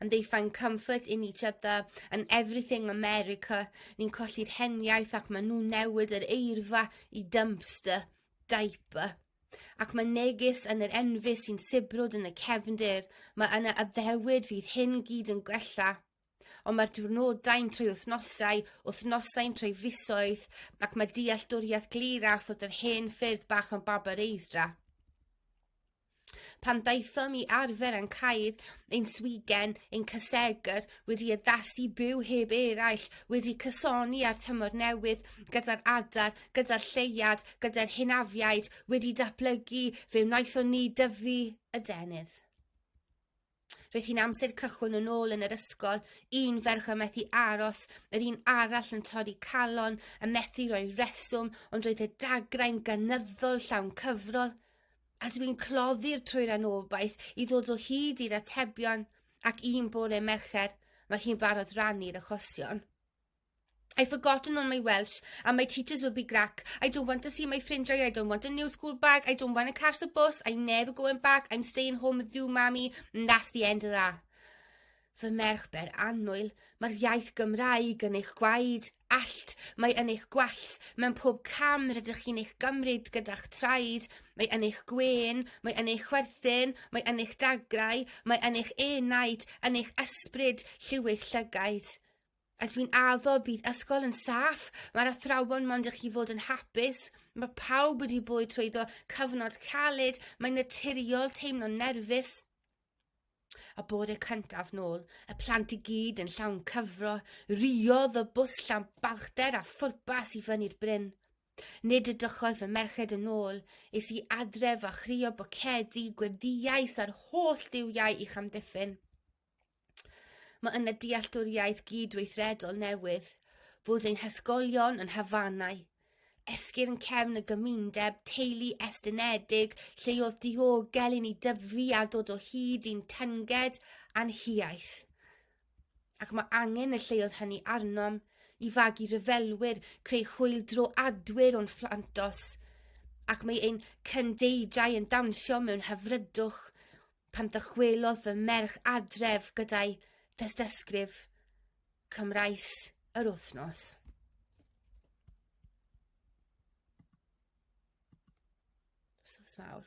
and they find comfort in each other and everything America. Ni'n colli'r heniaeth ac maen nhw'n newid yr eirfa i dumpster, diaper. Ac mae negus yn yr enfys sy'n sibrwd yn y cefndir, mae yna addewid fydd hyn gyd yn gwella. Ond mae'r diwrnodau'n trwy wythnosau, wythnosau'n trwy fisoedd, ac mae dealltwriaeth glir a fod yr hen ffyrdd bach yn babar eidra. Pan daethom i arfer yn cael ein swigen, ein cysegr, wedi addasu byw heb eraill, wedi cysoni â'r tymor newydd, gyda'r adar, gyda'r lleuad, gyda'r hynafiaid, wedi datblygu, fe wnaethon ni dyfu y denydd. Roedd hi'n amser cychwyn yn ôl yn yr ysgol, un ferch yn methu aros, yr un arall yn torri calon, y methu roi reswm, ond roedd y dagrau'n gynyddol llawn cyfrol. A dw i'n cloddi'r trwy'r anobaith i ddod o hyd i'r atebion, ac un bore Mercher, mae hi'n barod rannu'r achosion. I forgotten all my Welsh and my teachers will be grack. I don't want to see my ffrindiau, I don't want a new school bag, I don't want to catch the bus, I'm never going back, I'm staying home with you, mummy, and that's the end of that. Fy merch ber annwyl, mae'r iaith Gymraeg yn eich gwaed, allt, mae yn eich gwallt, mewn pob cam rydych chi'n eich gymryd gyda'ch traed, mae yn eich gwen, mae yn eich chwerthin, mae yn eich dagrau, mae yn eich enaid, yn eich ysbryd, lliw'ch llygaid. A dwi'n addo bydd ysgol yn saff, mae'r athrawon mond i chi fod yn hapus, mae pawb wedi bwyd trwyddo cyfnod caled, mae'n naturiol teimlo nerfus. A bore cyntaf nôl, y plant i gyd yn llawn cyfro, riodd y bws llawn balchder a phwrpas i fyny'r bryn. Nid y dychodd fy merched yn ôl, is i adref a chrio bocedi, gweddiais a'r holl ddiwiau i'ch amddiffyn. Mae yna dealltwriaeth gydweithredol newydd bod ein hysgolion yn hafanau, esgyrn cefn y gymundeb, teulu estynedig, lle oedd diogel i ni dyfu a dod o hyd i'n tynged a'n hiaith. Ac mae angen y lleoedd hynny arnom i fagu rhyfelwyr, creu hwyl dro adwyr o'n fflantos, ac mae ein cyndeidrau yn dawnsio mewn hyfrydwch pan ddychwelodd fy merch adref gyda'i thystysgrif Cymraes yr wythnos. Sos mawr.